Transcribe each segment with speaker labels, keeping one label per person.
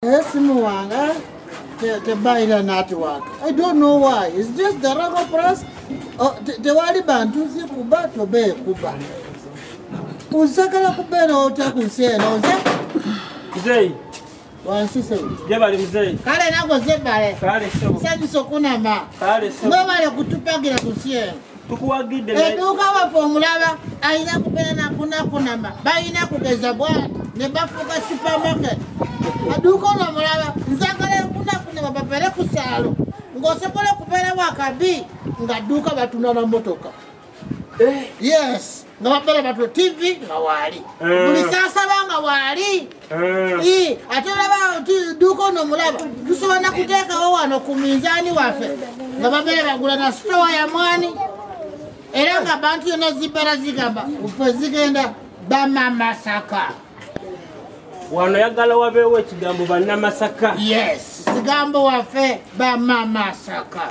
Speaker 1: Naye simu wange tebayira natiwaka i don't know why is this the raba press oh, tewali bantu zikuba tobe kuba uzagala kubeera otya ku nsi eno nze mzeyi
Speaker 2: wansi
Speaker 1: sebo jebali mzeyi
Speaker 2: kale nago zebale
Speaker 1: kale sebo sanyusa
Speaker 2: okunama
Speaker 1: kale sebo mwebale
Speaker 2: kutupagira
Speaker 1: ku nsi eno tukuwagidde
Speaker 2: eduuka waffe
Speaker 1: omulaba alina kubeera nakunakunama balina kugeza bwati ne bafuuka supermarket aduuka ono omulaba nzagala enkunakunama bapere ku saalo ng'osobola okubeerawo akabi ng'adduuka batuna na motoka eh. yes nga babeera batwe tv nga waali eh. buli saasaba nga waali Eh. ate olaba duuka ono mulaba tusobola nakuteekawo wano ku minzaani waffe nga babeera bagula na sitowa ya mwani era nga bantu yona zibeera zigamba fe zigenda bamamasaka
Speaker 2: wano yagala wabeewo ekigambo banamasaka yes sigambo
Speaker 1: waffe bamamasaka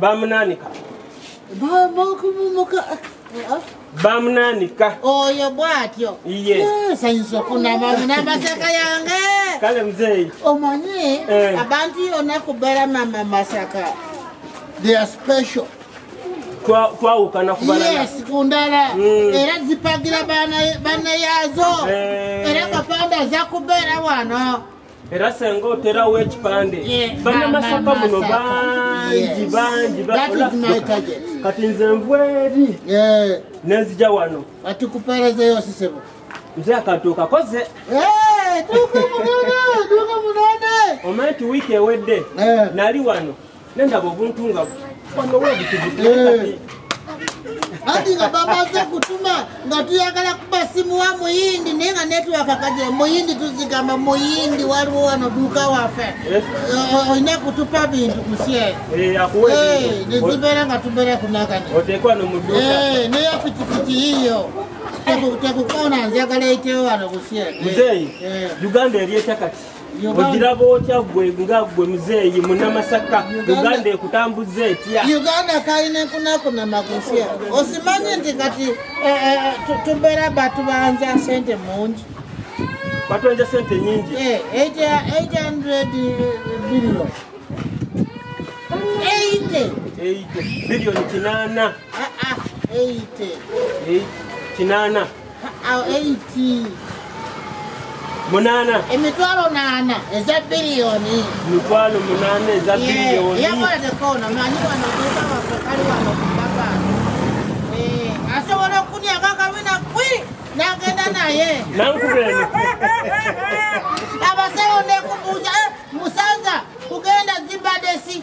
Speaker 2: bamunanika bamunanika oyo bwatyo sayinza okunama
Speaker 1: namasaka yange kale muzeeyi
Speaker 2: omanyi eh.
Speaker 1: abantu yona kubera mama masaka they are special
Speaker 2: twawukana kubalayes ku ndala
Speaker 1: hmm. era zipagira banayazo eh. era kapanda aza kubeera wano era senga
Speaker 2: oterawo ekipande banamasaka muno bangi bangi
Speaker 1: kati nze nva
Speaker 2: eri nenzija wano atikuperezeyo
Speaker 1: sisebo nze akantu
Speaker 2: okakoze
Speaker 1: omanyi ti wiiki
Speaker 2: ewedde nali wano Nenda bobuntunga wano webi tubutee.
Speaker 1: Hadi nga bamaze kutuma nga tuyagala kuba simu wa muyindi naye nga network kaje muyindi tuzigamba muyindi waliwo wano duka wafe eh? eh, olina kutupa bintu kusye eh,
Speaker 2: nezibeera
Speaker 1: nga tubeera kunagana
Speaker 2: naye pikipiki
Speaker 1: yiyo tekukona njagala eitewo wano kusye
Speaker 2: uganda eryeta kati ogiraba otya gwe nga gwe muzeeyi munamasaka uganda ekutambuza etya uganda kalina
Speaker 1: enkunakuna makusya osimanye nti kati eh, eh, eh, tubeera batubanza sente mungi batonja
Speaker 2: sente nyingi 800
Speaker 1: billion billion
Speaker 2: kinana
Speaker 1: kinana
Speaker 2: awo
Speaker 1: 8
Speaker 2: munana emitwalo nana
Speaker 1: eza biliyoni mitwalo
Speaker 2: munana eza biliyoni yakola tekona
Speaker 1: manyi wano kukawafe kali wano kubaka eh, asobola okukunya kakawina kwi nagenda naye nankubeni abasewo nekubuuza eh, musaza kugenda zibadesi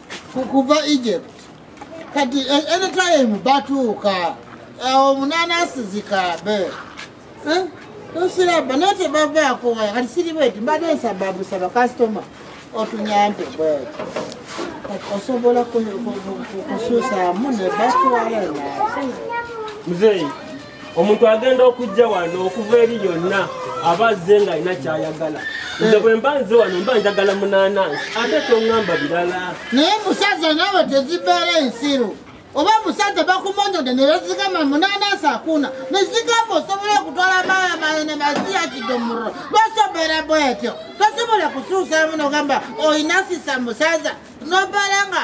Speaker 1: kukuva egypt kati e- anytime batuuka awo omunaana asizikaabe eh? tusiraba naye tebavaako waya kati siri bweti mbadde nsaba busaba kasitoma otunyambe bweti kati osobola kusuusaamu nebatwala naye muzeeyi
Speaker 2: omuntu agenda okujja wano okuva eri yonna aba azze ng'alina kyayagala nze bwe mba nze wano mba njagala munaanansi ate toŋŋamba birala naye musaza
Speaker 1: naawe tezibeera ensiru oba musajja bakumonyode nebezigama munanasi akuna nezigamba osobola okutwala maya maye nemaziyakidumuro basobera bwetyo tosobola kusuusamu nogamba oyinasisa musaza nobalanga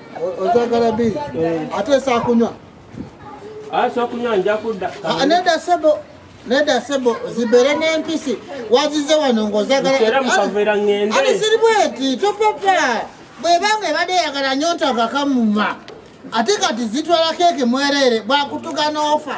Speaker 2: ozagala
Speaker 1: bi eh. ate esakunywa
Speaker 2: asokunywa ah, nja kudda ah, neda sebo
Speaker 1: neda sebo zibere n'empisi wazize wano ng'ozagalaalisiri bweti topapa bwebanga ebadde eyagala nyo ntagakamuma ate kati zitwala keeke mwereere bwakutuga n'ofa